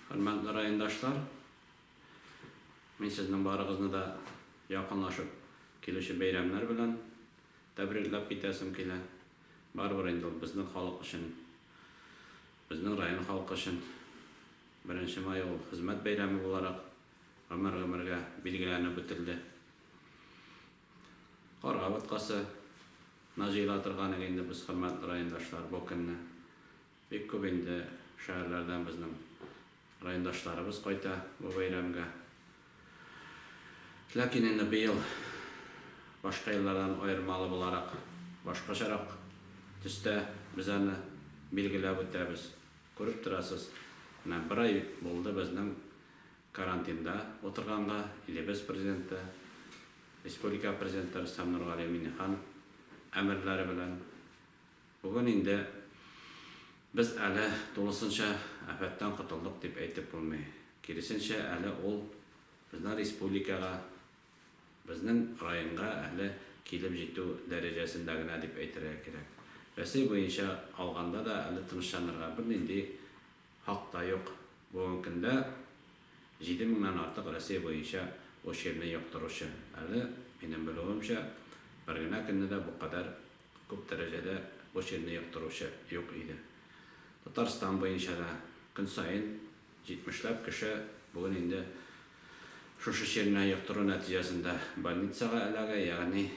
Хөрмәтле райондашлар, мин сезнең барыгызны да якынлашып килүче бәйрәмнәр белән тәбрикләп китәсем килә. Барыбер инде ул безнең халык өчен, безнең район халкы өчен беренче май ул хезмәт бәйрәме буларак гомер-гомергә билгеләнеп үтелде. Карга боткасы на җыела торган иде инде без, хөрмәтле райондашлар, бу көнне. Бик күп инде шәһәрләрдән безнең райондашларыбыз кайта бу бәйрәмгә. Ләкин инде быел башка еллардан аермалы буларак, башкачарак төстә без аны билгеләп үтәбез. Күреп торасыз, менә бер ай булды безнең карантинда утырганга, илебез Президенты, республика Президенты Рөстәм Нургали Миңнеханов әмерләре белән, Бүген инде без әле тулысынча афәттән котылдык дип әйтеп булмый. Киресенчә, әле ул безнең республикага, безнең районга әле килеп җитү дәрәҗәсендә генә дип әйтергә кирәк. Рәсәй буенча алганда да әле тынычланырга бернинди хак та юк. Бүгенге көндә җиде меңнән артык Рәсәй буенча очерный йоктыручы, әле, минем белүемчә, бер генә көнне дә бу кадәр Күп дәрәҗәдә бу чирне яктыручы юк иде. Татарстан буенча да көн саен җитмешләп кеше бүген инде шушы чирне яктыру нәтиҗәсендә больницага эләгә, ягъни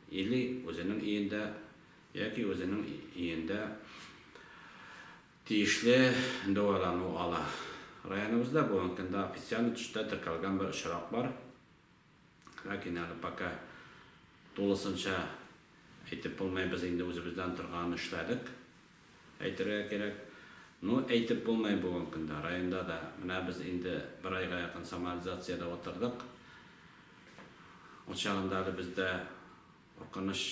или үзенең өендә, яки үзенең өендә тиешле дәвалану ала. Районыбызда бүгенге көндә официаль төстә теркәлгән бер очрак бар. Ләкин әле пока тулысынча әйтеп булмый, без инде үзебездән торганын эшләдек, әйтергә кирәк. Ну, әйтеп булмый бүгенге көндә, районда да, менә без инде бер айга якын самоализациядә утырдык. Ул чагында әле бездә, куркыныч.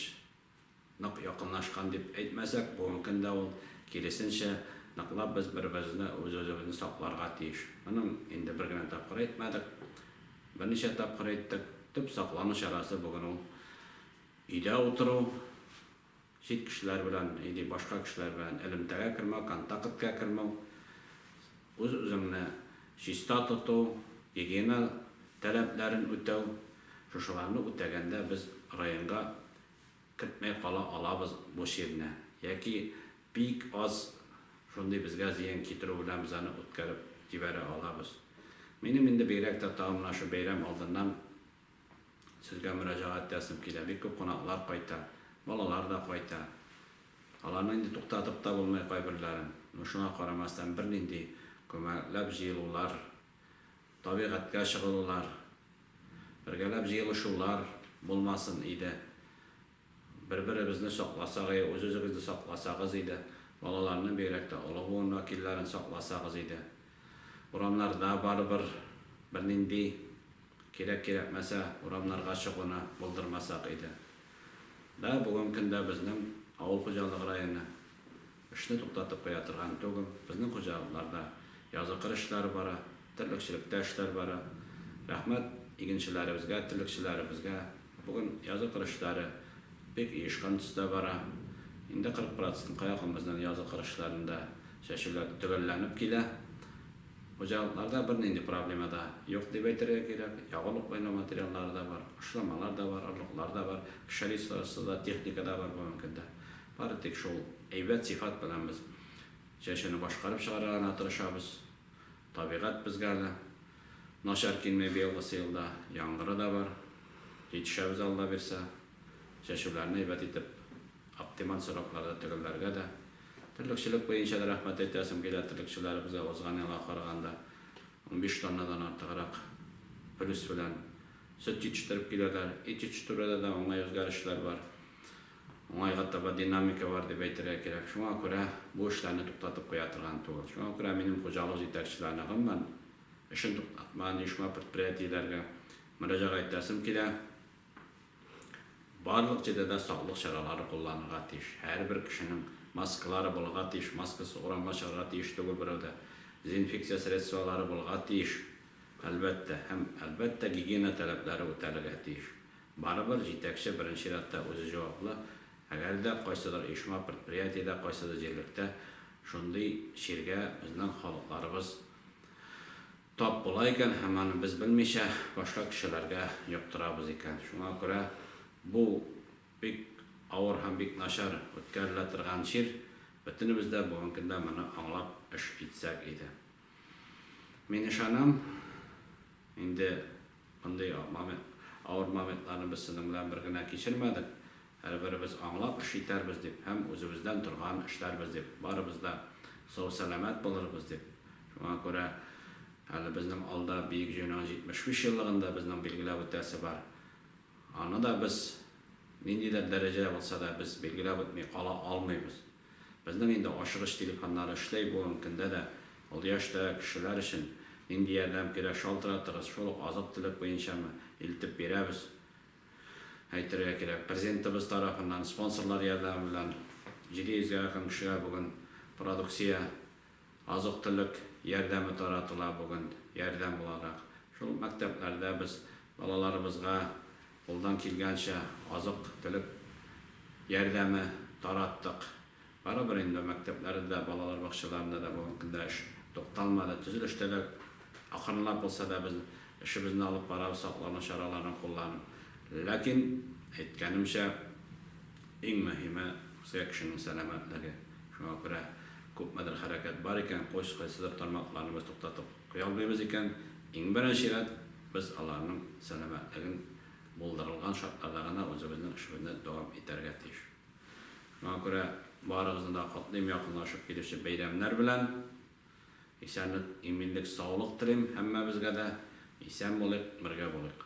Нык якынлашкан дип әйтмәсәк, бүген көн дә ул, киресенчә, ныклап без бер-беребезне, үз-үзебезне сакларга тиеш. Моны инде бер генә тапкыр әйтмәдек, берничә тапкыр әйттек. Төп саклану чарасы бүген ул, өйдә утыру, чит кешеләр белән, яки башка кешеләр белән элемтәгә кермәү, контакткә кермәү. Үз-үзеңне чиста тоту, гигиена таләпләрен үтәү, шушыларны үтәгәндә без районга кертмәй кала алабыз бу чирне, яки бик аз шундый безгә зыян китерү белән без аны үткәреп җибәрә алабыз. Минем инде бигрәк тә тагын менә шу бәйрәм алдыннан, Сезгә мөрәҗәгать ясыйм килә. Бик күп кунаклар кайта. Балалар да кайта. Аларны инде туктатып та булмый кайберләрен. Ну шуңа карамастан бернинди күмәкләп җыелулар, табигатькә чыгылулар, бергәләп җыелышулар булмасын иде. Бер-беребезне сакласак и үз-үзегезне сакласагыз иде, балаларны, бигрәк тә олы буын вәкилләрен сакласагыз иде. Урамнарда барыбер бернинди кирәк-кирәкмәсә урамнарга чыгуны булдырмасак иде. Да, бүгенге көндә безнең авыл хуҗалыгы районы. Эшне туктатып куя торган түгел. Безнең хуҗалыкларда языкыр эшләр бара, терлекчелектә эшләр бара. Рәхмәт игенчеләребезгә, терлекчеләребезгә. Бүген языкыр эшләре бик оешкан төстә бара. Инде 40 процентка якын безнең языкыр эшләрендә чәчүләр төгәлләнеп килә. Хуҗалыкларда бернинди проблема да юк дип әйтергә кирәк. Ягулык буйлау материаллары да бар, кошламалар да бар, орлыклар да бар, пшеница сыза техника да бар бүгенге көндә. Бары тик шул әйбәт сыйфат белән без чәчүне башкарып чыгарга гына тырышабыз. Табигать безгә әле начар килми быелгысы елда, яңгыры да бар. Җитешәбез Алла бирсә. Чәчүләрне әйбәт итеп, оптималь срокларда төгәлләргә дә. Терлекчелек буенча да рәхмәт әйтәсем килә, терлекчеләребезгә узган елга караганда унбиш тоннадан артыграк плюс белән сөт җитештереп киләләр. Ит җитештерүдә дә уңай үзгәрешләр бар. Уңайга таба динамика бар дип әйтергә кирәк. Шуңа күрә бу эшләрне туктатып куя торган түгел. Шуңа күрә минем хуҗалык җитәкчеләренә гомумән эшен туктатмаган оешма-предприятиеләргә мөрәҗәгать итәсем килә, барлык җирдә дә саклык чаралары кулланырга тиеш. Һәрбер кешенең маскалары булырга тиеш, маскасыз урамга чыгарга тиеш түгел берәү дә. Дезинфекция средстволары булырга тиеш, әлбәттә, һәм, әлбәттә, гигиена таләпләре үтәлергә тиеш. Барыбер җитәкче беренче чиратта үзе җаваплы, әгәр дә кайсыдыр оешма, предприятиедә, кайсыдыр җирлектә шундый чиргә безнең халыкларыбыз тап була икән һәм аны без белмичә башка кешеләргә йоктырабыз икән, шуңа күрә бу бик авыр һәм бик начар үткәрелә торган чир, бөтенебез дә бүген көндә моны аңлап эш итсәк иде. Мин ышанам, инде. Мондый момент, авыр моментларны без сезнең белән бер генә кичермәдек. Һәрберебез аңлап эш итәрбез дип һәм үзебездән торган эшләрбез дип, барыбыз да сау-сәламәт булырбыз дип. Шуңа күрә әле безнең алда Бөек Җыенуның 75 еллыгын да безнең билгеләп үтәсе бар. Аны да без ниндидер дәрәҗәдә булса да без билгеләп үтми кала алмыйбыз. Безнең инде ашыгыч телефоннар эшләй бүгенге көндә дә. Ул яшьтә кешеләр өчен нинди ярдәм кирәк, шалтыратыгыз, шул ук азык-төлек буенчамы, илтеп бирәбез. Әйтергә кирәк, Президентыбыз тарафыннан, спонсорлар ярдәме белән 700 гә якын кешегә бүген продукция, Азык-төлек ярдәме таратыла бүген, ярдәм буларак. Шул мәктәпләрдә без балаларыбызга кулдан килгәнчә азык-төлек ярдәме тараттык. Барыбер инде мәктәпләрдә дә, балалар бакчаларында да бүгенге көндә эш тукталмады. Төзелештә дә акрынлап булса да без эшебезне алып барабыз, саклану чараларын кулланып. Ләкин, әйткәнемчә. Иң мөһиме, русия кешенең сәламәтлеге. Шуңа күрә күпмедер хәрәкәт бар икән, коч, кайсыдыр тармакларны без туктатып куя алмыйбыз икән, иң беренче рәт без аларның сәламәтлеген булдырылган шартларда гына үзебезнең эшебезне дәвам итәргә тиеш. Шуңа күрә барыгызны да котлыйм якынлашып килүче бәйрәмнәр белән. Исәнлек, иминлек, саулык телим һәммәбезгә дә. Исән булыйк, бергә булыйк.